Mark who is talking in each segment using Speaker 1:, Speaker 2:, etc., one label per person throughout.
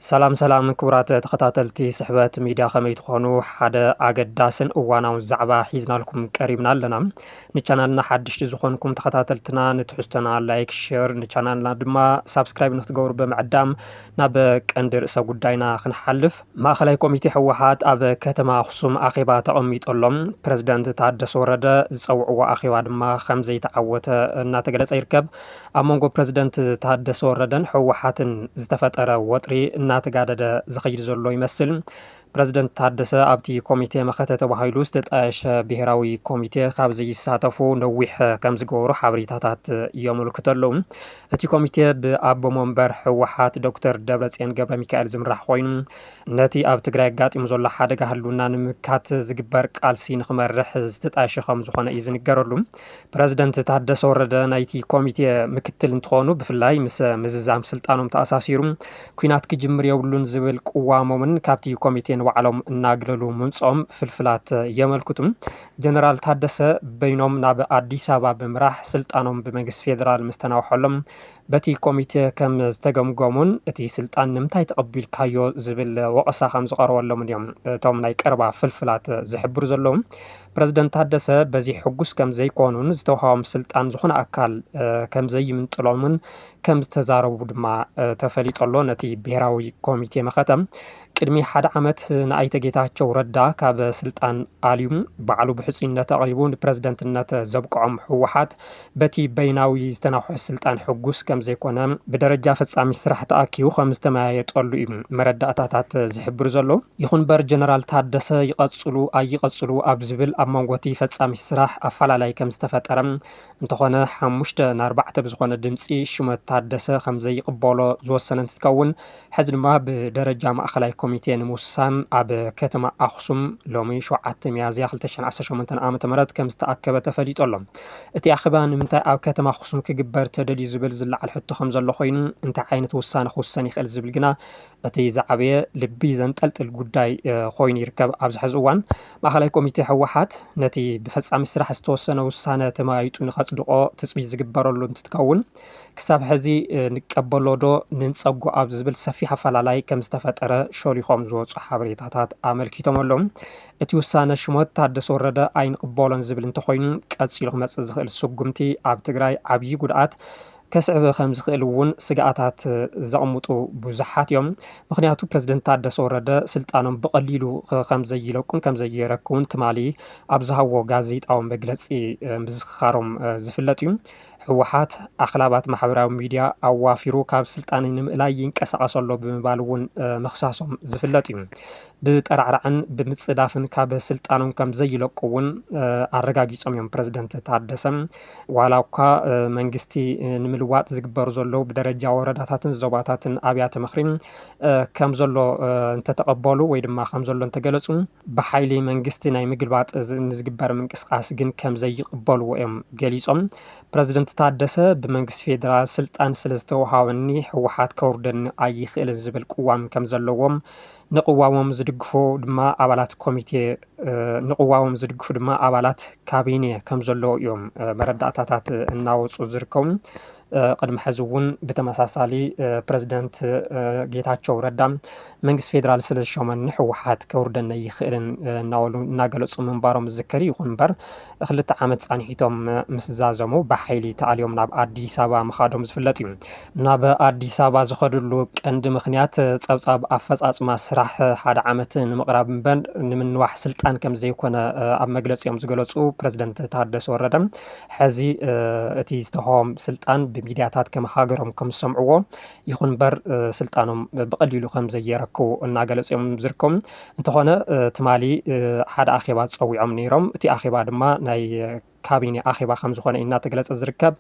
Speaker 1: ሰላም ሰላም ክቡራት ተኸታተልቲ ስሕበት ሚድያ ከመይ ትኾኑ? ሓደ ኣገዳስን እዋናውን ዛዕባ ሒዝናልኩም ቀሪብና ኣለና። ንቻናልና ሓድሽቲ ዝኾንኩም ተኸታተልትና ንትሕዝቶና ላይክ፣ ሼር ንቻናልና ድማ ሳብስክራይብ ንክትገብሩ ብምዕዳም ናብ ቀንዲ ርእሰ ጉዳይና ክንሓልፍ ማእኸላይ ኮሚቴ ህወሓት ኣብ ከተማ ኣኽሱም ኣኼባ ተቐሚጡ ኣሎ። ፕረዚደንት ታደሰ ወረደ ዝፀውዕዎ ኣኼባ ድማ ከምዘይተዓወተ እናተገለፀ ይርከብ። ኣብ መንጎ ፕረዚደንት ታደሰ ወረደን ህወሓትን ዝተፈጠረ ወጥሪ እናተጋደደ ዝኸይድ ዘሎ ይመስል። ፕረዚደንት ታደሰ ኣብቲ ኮሚቴ መኸተ ተባሂሉ ዝተጣየሸ ብሄራዊ ኮሚቴ ካብ ዘይሳተፉ ነዊሕ ከምዝገበሩ ሓበሬታታት የመልክቱ ኣለዉ። እቲ ኮሚቴ ብኣቦ መንበር ህወሓት ዶክተር ደብረፅዮን ገብረሚካኤል ዝምራሕ ኮይኑ ነቲ ኣብ ትግራይ ኣጋጢሙ ዘሎ ሓደጋ ህልውና ንምምካት ዝግበር ቃልሲ ንክመርሕ ዝተጣየሸ ከምዝኾነ እዩ ዝንገረሉ። ፕረዚደንት ታደሰ ወረደ ናይቲ ኮሚቴ ምክትል እንትኾኑ ብፍላይ ምስ ምዝዛም ስልጣኖም ተኣሳሲሩ ኩናት ክጅምር የብሉን ዝብል ቅዋሞምን ካብቲ ኮሚቴ ንባዕሎም እናግለሉ ምምፅኦም ፍልፍላት የመልክቱ። ጀነራል ታደሰ በይኖም ናብ ኣዲስ ኣበባ ብምራሕ ስልጣኖም ብመንግስቲ ፌዴራል ምስ ተናውሐሎም በቲ ኮሚቴ ከም ዝተገምገሙን እቲ ስልጣን ንምንታይ ተቐቢልካዮ ዝብል ወቐሳ ከም ዝቐረበሎምን እዮም እቶም ናይ ቀረባ ፍልፍላት ዝሕብሩ ዘለዉ። ፕረዚደንት ታደሰ በዚ ሕጉስ ከም ዘይኮኑን ዝተውሃቦም ስልጣን ዝኾነ ኣካል ከም ዘይምንጥሎምን ከም ዝተዛረቡ ድማ ተፈሊጦ ኣሎ። ነቲ ብሄራዊ ኮሚቴ መኸተ ቅድሚ ሓደ ዓመት ንኣይተ ጌታቸው ረዳ ካብ ስልጣን ኣልዩ ባዕሉ ብሕፁይነት ኣቕሪቡ ንፕረዚደንትነት ዘብቅዖም ህወሓት በቲ በይናዊ ዝተናውሐ ስልጣን ሕጉስ ከም ዘይኮነ ብደረጃ ፈጻሚት ስራሕ ተኣኪቡ ከም ዝተመያየጠሉ እዩ መረዳእታታት ዝሕብሩ ዘሎ። ይኹን እምበር ጀነራል ታደሰ ይቐጽሉ ኣይቐጽሉ ኣብ ዝብል ኣብ መንጎ እቲ ፈጻሚት ስራሕ ኣፈላላይ ከም ዝተፈጠረ እንተኾነ ሓሙሽተ ንኣርባዕተ ብዝኾነ ድምጺ ሹመት ታደሰ ከም ዘይቕበሎ ዝወሰነ እንትትከውን ሕዚ ድማ ብደረጃ ማእኸላይ ኮሚቴ ንምውሳን ኣብ ከተማ ኣኽሱም ሎሚ ሸውዓተ ሚያዝያ ክልተ ሽሕን ዓሰርተ ሸሞንተን ዓመተ ምህረት ከም ዝተኣከበ ተፈሊጡ ኣሎ። እቲ ኣኼባ ንምንታይ ኣብ ከተማ ኣኽሱም ክግበር ተደልዩ ዝብል ዝለዓል ሕቶ ከም ዘሎ ኮይኑ እንታይ ዓይነት ውሳነ ክውሰን ይኽእል ዝብል ግና እቲ ዝዓበየ ልቢ ዘንጠልጥል ጉዳይ እ፣ ኮይኑ ይርከብ። ኣብዚ ሕዚ እዋን ማእኸላይ ኮሚቴ ህወሓት ነቲ ብፈፃሚ ስራሕ ዝተወሰነ ውሳነ ተመያይጡ ንከፅድቖ ትፅቢት ዝግበረሉ እንትትከውን፣ ክሳብ ሕዚ ንቀበሎ ዶ ንንፀጎ ኣብ ዝብል ሰፊሕ ኣፈላላይ ከም ዝተፈጠረ ሾሊኾም ዝወፁ ሓበሬታታት ኣመልኪቶም ኣለዉ። እቲ ውሳነ ሽሞት ታደሰ ወረደ ኣይንቕበሎን ዝብል እንተኾይኑ ቀፂሉ ክመፅእ ዝኽእል ስጉምቲ ኣብ ትግራይ ዓብዪ ጉድኣት ከስዕብ ከም ዝኽእል እውን ስግኣታት ዘቕምጡ ብዙሓት እዮም። ምክንያቱ ፕረዚደንት ታደሰ ወረደ ስልጣኖም ብቐሊሉ ከም ዘይለቁን ከም ዘየረክቡን ትማሊ ኣብ ዝሃብዎ ጋዜጣዊ መግለፂ ምዝኽኻሮም ዝፍለጥ እዩ። ህወሓት ኣኽላባት ማሕበራዊ ሚድያ ኣዋፊሩ ካብ ስልጣን ንምእላይ ይንቀሳቐስ ኣሎ ብምባል እውን ምኽሳሶም ዝፍለጥ እዩ። ብጠራዕራዕን ብምፅዳፍን ካብ ስልጣኖም ከም ዘይለቁ እውን ኣረጋጊፆም እዮም ፕረዚደንት ታደሰ። ዋላ እኳ መንግስቲ ንምልዋጥ ዝግበሩ ዘለዉ ብደረጃ ወረዳታትን ዞባታትን ኣብያተ ምኽሪን ከም ዘሎ እንተተቐበሉ ወይ ድማ ከም ዘሎ እንተገለፁ ብሓይሊ መንግስቲ ናይ ምግልባጥ ንዝግበር ምንቅስቓስ ግን ከም ዘይቕበልዎ እዮም ገሊፆም። ፕረዚደንት ታደሰ ብመንግስቲ ፌዴራል ስልጣን ስለ ዝተውሃበኒ ህወሓት ከውርደኒ ኣይኽእልን ዝብል ቅዋም ከም ዘለዎም ንቅዋሞም ዝድግፉ ድማ ኣባላት ኮሚቴ ንቅዋሞም ዝድግፉ ድማ ኣባላት ካቢኔ ከም ዘለዉ እዮም መረዳእታታት እናወፁ ዝርከቡ። ቅድሚ ሕዚ እውን ብተመሳሳሊ ፕረዚደንት ጌታቸው ረዳ መንግስቲ ፌዴራል ስለ ዝሸመኒ ህወሓት ከውርደኒ ኣይኽእልን እናበሉ እናገለፁ ምንባሮም ዝዝከር ይኹን እምበር ክልተ ዓመት ፃንሒቶም ምስ ዛዘሙ ብሓይሊ ተኣልዮም ናብ ኣዲስ ኣበባ ምኻዶም ዝፍለጥ እዩ። ናብ ኣዲስ ኣበባ ዝኸድሉ ቀንዲ ምክንያት ፀብፃብ ኣፈፃፅማ ስራሕ ሓደ ዓመት ንምቕራብ እምበር ንምንዋሕ ስልጣን ከም ዘይኮነ ኣብ መግለፂኦም ዝገለፁ ፕረዚደንት ታደሰ ወረደ ሐዚ እቲ ዝተውሃቦም ስልጣን ብሚድያታት ከም ሃገሮም ከም ዝሰምዕዎ ይኹን እምበር ስልጣኖም ብቐሊሉ ከም ዘየረክቡ እናገለፁ እዮም ዝርከቡ። እንተኾነ ትማሊ ሓደ ኣኼባ ፀዊዖም ነይሮም። እቲ ኣኼባ ድማ ናይ ካቢኔ ኣኼባ ከም ዝኾነ እዩ እናተገለፀ ዝርከብ።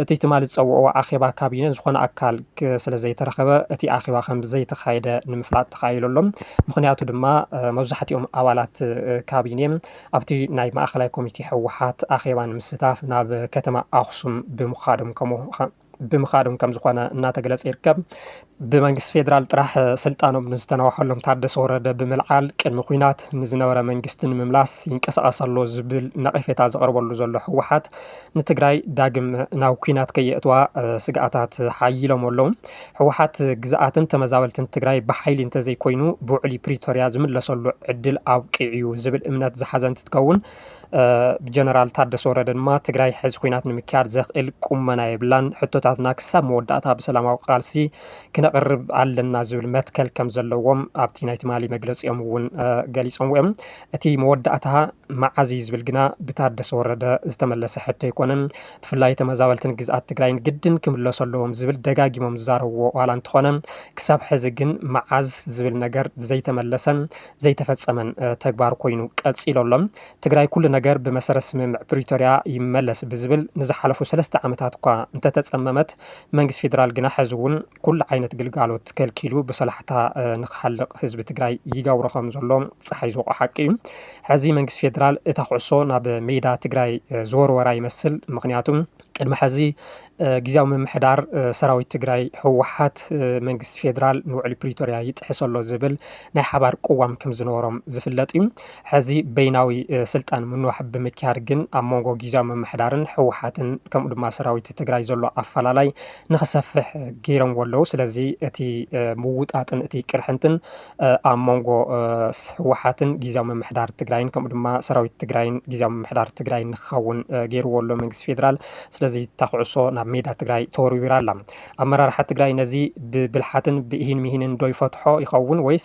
Speaker 1: እቲ ትማሊ ዝፀውዕዎ ኣኼባ ካቢኔ ዝኾነ ኣካል ስለ ዘይተረኸበ እቲ ኣኼባ ከም ዘይተኻየደ ንምፍላጥ ተኻኢሉ ኣሎ። ምኽንያቱ ድማ መብዛሕትኦም ኣባላት ካቢኔ ኣብቲ ናይ ማእኸላይ ኮሚቴ ህወሓት ኣኼባ ንምስታፍ ናብ ከተማ ኣኽሱም ብምኻዶም ከምኡ ብምኻዶም ከም ዝኾነ እናተገለፀ ይርከብ። ብመንግስቲ ፌዴራል ጥራሕ ስልጣኖም ንዝተናውሐሎም ታደሰ ወረደ ብምልዓል ቅድሚ ኩናት ንዝነበረ መንግስቲ ንምምላስ ይንቀሳቐስ ኣሎ ዝብል ነቐፌታ ዘቕርበሉ ዘሎ ህወሓት ንትግራይ ዳግም ናብ ኩናት ከየእትዋ ስግኣታት ሓይሎም ኣለዉ። ህወሓት ግዝኣትን ተመዛበልትን ትግራይ ብሓይሊ እንተዘይኮይኑ ብውዕሊ ፕሪቶርያ ዝምለሰሉ ዕድል ኣብቂዑ'ዩ ዝብል እምነት ዝሓዘ እንትትከውን ብጀነራል ታደሰ ወረደ ድማ ትግራይ ሕዚ ኩናት ንምክያድ ዘኽእል ቁመና የብላን፣ ሕቶታትና ክሳብ መወዳእታ ብሰላማዊ ቃልሲ ክነቕርብ ኣለና ዝብል መትከል ከም ዘለዎም ኣብቲ ናይ ትማሊ መግለፂኦም እውን ገሊፆምዎ እዮም። እቲ መወዳእታ መዓዝ እዩ ዝብል ግና ብታደሰ ወረደ ዝተመለሰ ሕቶ ኣይኮነን። ብፍላይ ተመዛበልቲ ንግዝኣት ትግራይ ግድን ክምለሱ ኣለዎም ዝብል ደጋጊሞም ዝዛረብዎ ዋላ እንተኾነ ክሳብ ሕዚ ግን መዓዝ ዝብል ነገር ዘይተመለሰን ዘይተፈፀመን ተግባር ኮይኑ ቀፂሉ ኣሎ። ትግራይ ኩሉ ነገር ብመሰረት ስምምዕ ፕሪቶሪያ ይመለስ ብዝብል ንዝሓለፉ ሰለስተ ዓመታት እኳ እንተተፀመመት መንግስቲ ፌደራል ግና ሐዚ እውን ኩሉ ዓይነት ግልጋሎት ከልኪሉ ብሰላሕታ ንክሓልቕ ህዝቢ ትግራይ ይገብሮ ከምዘሎ ፀሓይ ዝወቕዖ ሓቂ እዩ። ሐዚ መንግስቲ ፌደራል እታ ኩዕሶ ናብ ሜዳ ትግራይ ዝወርወራ ይመስል። ምኽንያቱ ቅድሚ ሐዚ ግዝያዊ ምምሕዳር ሰራዊት ትግራይ ህወሓት መንግስቲ ፌደራል ንውዕሊ ፕሪቶርያ ይጥሕስ ኣሎ ዝብል ናይ ሓባር ቅዋም ከምዝነበሮም ዝፍለጥ እዩ። ሕዚ በይናዊ ስልጣን ምንዋሕ ብምክያድ ግን ኣብ መንጎ ጊዜያዊ ምምሕዳርን ህወሓትን ከምኡ ድማ ሰራዊት ትግራይ ዘሎ ኣፈላላይ ንክሰፍሕ ገይረምዎ ኣለዉ። ስለዚ እቲ ምውጣጥን እቲ ቅርሕንትን ኣብ መንጎ ህወሓትን ጊዜያዊ ምምሕዳር ትግራይን ከምኡ ድማ ሰራዊት ትግራይን ጊዜያዊ ምምሕዳር ትግራይን ንክኸውን ገይርዎ ኣሎ መንግስቲ ፌዴራል። ስለዚ እታ ኩዕሶ ናብ ሜዳ ትግራይ ተወርዊራ ኣላ። ኣመራርሓ ትግራይ ነዚ ብብልሓትን ብኢሂን ምሂንን ዶ ይፈትሖ ይኸውን ወይስ